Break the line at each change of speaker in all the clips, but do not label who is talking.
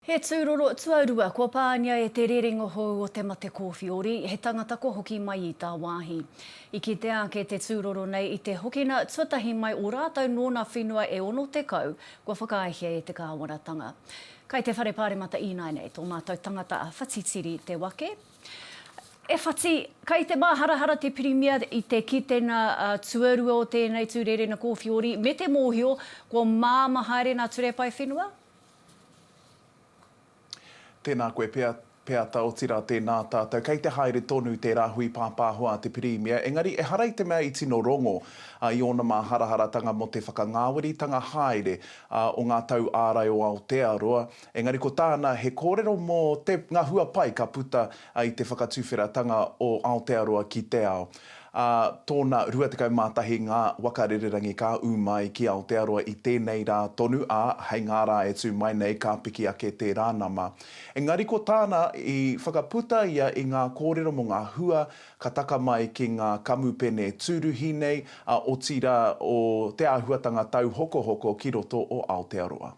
He tūroro tuarua kua pāngia e te rerenga hou o te mate kōwhiori, he tangata kua hoki mai i tāwāhi. I kitea ake te tūroro nei i te hokina tuatahi mai o rātou nōna whenua e 60 kua whakaaehia e te kāwanatanga. Kai te Whare Pāremata ināianei tō mātou tangata a Whati Tiri Te Wake. E Whati, kai te māharahara te Pirimia i te kitenga tuarua o tēnei tū rerena kōwhiori me te mōhio kua māmā haere nā Turepai Whenua?
Tēnā koe pea, Peata, otirā tēnā tātou. Kei te haere tonu te rāhui pāpāho a te Pirimia, engari ehara i te mea i tino rongō i ōna māharaharatanga mō te whakangāweritanga haere o ngā tau ārai o Aotearoa, engari ko tāna he kōrero mō te, ngā hua pai ka puta i te whakatuwheratanga o Aotearoa ki te ao. Ā tōna 21 ngā waka rererangi ka ū mai ki Aotearoa i tēnei rā tonu, ā, hei ngā rā e tū mai nei ka piki ake tērā nama. Engari ko tāna, i whakaputa ia i ngā kōrero mō ngā hua ka taka mai ki ngā kamupene tūruhi nei, ā, otirā o te āhuatanga tauhokohoko ki roto o Aotearoa.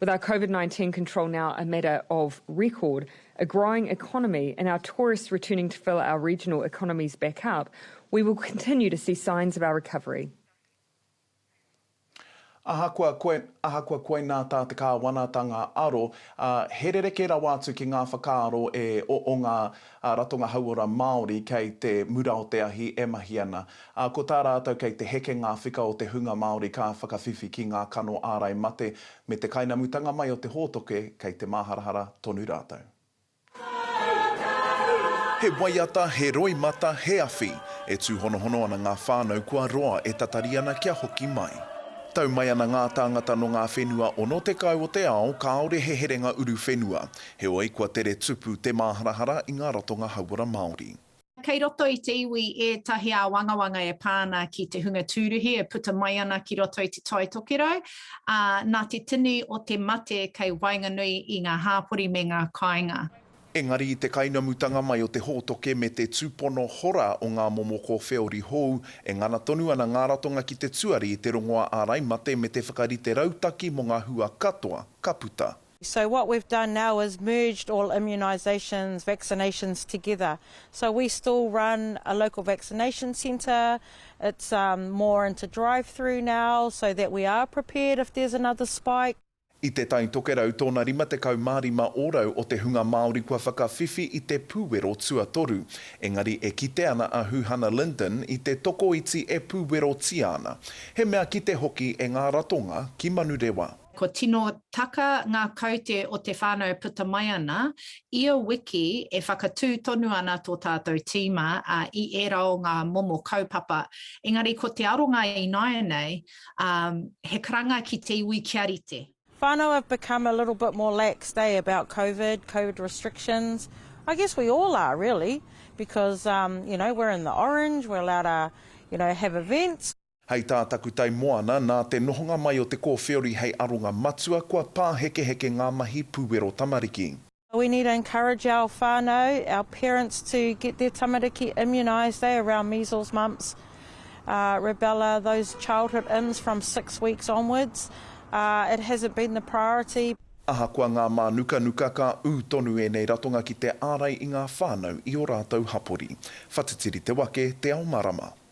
With our Covid 19 control now a matter of record, a growing economy and our tourists returning to fill our regional economies back up, we will continue to see signs of our recovery.
Ahakoa koe, ahakoa koinā tā te Kāwanatanga aro, ā, he rerekē rawa atu ki ngā whakaaro e o, o ngā Ā, ratonga hauora Māori kei te mura o te ahi e mahi ana. Ā, ko tā rātou kei te heke ngā whika o te hunga Māori ka whakawhiwhi ki ngā kano ārai mate me te kainamutanga mai o te hōtoke kei te māharahara tonu rātou. He waiata, he roimata, he awhi, e tūhonohono ana ngā whānau kua roa e tatari ana kia hoki mai. Tau mai ana ngā tāngata nō ngā whenua 60 o te ao kāore he herenga uruwhenua. Heoi, kua tere tupu te māharahara i ngā ratonga hauora Māori. Kei roto i
te iwi ētahi āwangawanga e pā ana ki te hunga tūruhi e puta mai ana ki roto i Te Tai Tokerau, ā, nā te tini o te mate kei waenganui i ngā hāpori me ngā kāinga. Engari i te
kainamutanga mai o te hōtoke me te tūpono hora o ngā momo kōwheori hou, e ngana tonu ana ngā ratonga ki te tuari i te rongoā ārai mate me te whakarite rautaki mō ngā hua katoa ka puta. So what we've done
now is merged all immunisations, vaccinations together. So we still run a local vaccination centre, it's more into drive through now so that we are prepared if there's another spike. I Te Tai
Tokerau tōna 55 ōrau o te hunga Māori kua whakawhiwhi i te pūwero tuatoru, engari e kite ana a Huhana Lyndon i te tokoiti e pūwerotia ana, he mea kite hoki e ngā ratonga ki Manurewa. Kua tino
taka ngā kaute o te whānau e puta mai ana. Ia wiki e whakatū tonu ana tō tātou tīma i ērā o ngā momo kaupapa. Engari ko te aronga ināianei, he karanga ki te iwi kia rite. Whānau have become
a little bit more laxed eh about covid, covid restrictions, I guess we all are really because you know we're in the orange, we're allowed to you know have events. Hei tā Takutai
Moana, nā te nohonga mai o te kōwhiori hei aronga matua, kua pāhekeheke ngā mahi puwero tamariki. We need to
encourage our whanau, our parents to get their tamariki immunised eh around measles, mumps, rubella, those childhood ims from six weeks onwards. It hasn't been the priority. Ahakoa ngā
mānukanuka, ka ū tonu ēnei ratonga ki te ārai i ngā whānau i ō rātou hapori. Whatitiri te wake, te ao marama.